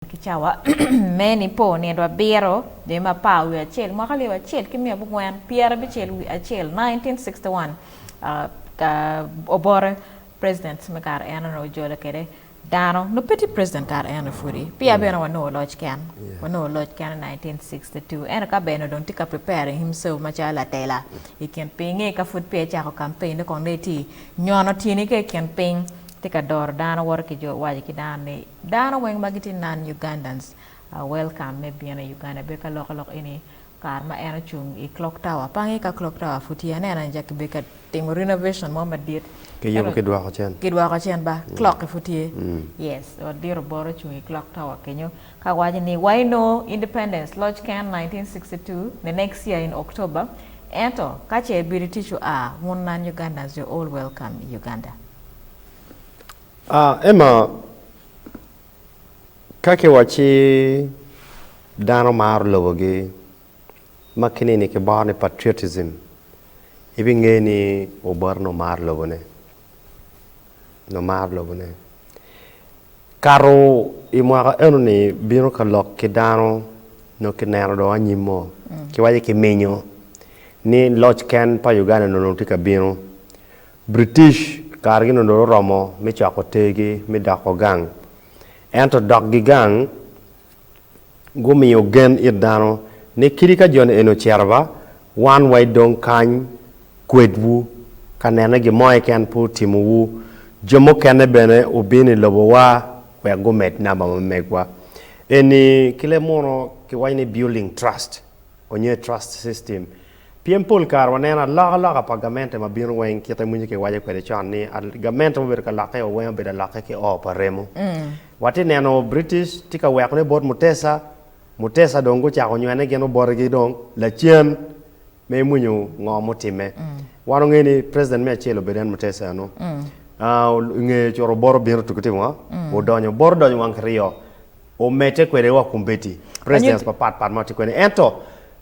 Ki cawa me Nipo nino abiro, jami me apar wiye acel, mwaka alip acel ki miya abongwen pyera abicel wiye acel, 1961, Obote, President me kare eno ni ojolo kede dano nyo pe tye President kare eno ni pudi, peya bene wanongo oloc ken, wanongo oloc ken i 1962, ento ka bene dong tye ka preparing himself macalo latela i kin piny, inge ka pud peya ecako campaign ne kono dong etye nyono tyeni ki i kin piny, tye ka doro dano woto ki jo waco ki dano ni Dano weng ma gitye non Ugandans are welcome me bino i Uganda bed ka loko lok eni kare ma en ocung i clock tower pangi ka clock tower pud tye aneno en aye bed ka timo renovation mo madit kiyubo ki dwoko cen kidwoko cen ba clock ki pud tye yes ot dit oboro ocung i clock tower kenyo ka waco ni wa eno independence loc ken 1962 the next year in October ento kace ibino tic ua wun non Ugandans you're all welcome i Uganda. A Ema ka kiwacci dano maro lobogi, ma kinini kiboro ni patriotism, ibinge ni oboro ni omaro lobone, ni omaro lobone. Kato i mwaka enoni bino ka lok ki dano nyo ki neno dong anyim mo, kiwaci kiminyo ni loc ken pa Uganda-ni onongo tye ka bino. British kargi nongo dong oromo me coko tergi me doko gang. Ento dokgi gang gumiyo gen it dano ni kadi ka joni eni ocito ba, wan wa idong kany kwedwu ka nene gin mo keken pe otimowu. Jo mukene bene obino i lobowa wek gumed namba ma megwa. Eni ki leb muno kiwaco ni building trust onyo trust system. Pien pol kare waneno alokaloka pa gamente ma bino weng kit amwinyo kiwaco kwede con ni gamente mubedo ka lokke wa weng obedo alokke ki oo pa remo. Watye neno British tye ka weko ne bot Mutesa, Mutesa dong gucako nywene gin obote gi dong lacen me imwinyo ngo mutime. Wan ongeyo ni president me acel obedo en Mutesa eno. Ongeyo curo obote obino tuku timo ngo? Odonyo, obote odonyo wang kiryo. omedde kwede wa kumbedi presidents Anyuti- mapat pat ma watye kwede ento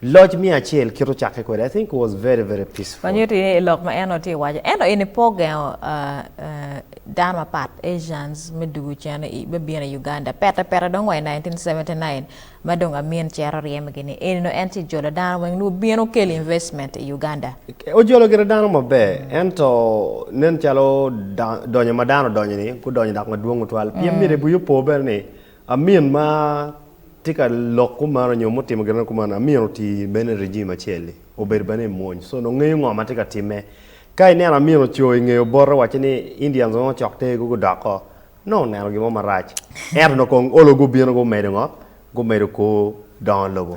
loc miya acel kit ocakke kwede I think it was very very peaceful Anyuti ni lok ma en tye ka waco ento eni pe ogengo ah, ah, dano mapat Asians me dugu cene i me bino i Uganda pete pete dong wa i 1979 ma dong Amin cito ryemgi ni eni dong en ci jolo dano weng nwo bino kelo investment i Uganda. Ojolo gire dano maber, ento nen calo donyo ma dano odonyo-ni gudonyo dok madwong tutwal. Pien mm. myero wiyi opo bene ni amin ma tye ka lok kumeno nyo mutimo gire kumeno, amin oti bene i regime acel-li, obedo bene i mwony. So nongo ngeyo ngo ma tye ka timme. Ka ineno amin oco i nge obote waco ni Indians nongo cok te gu gudok ko, nongo oneno gin mo marac. Ento nongo kong olo gubino gumedo ngo? Gumedo ko dongo lobo.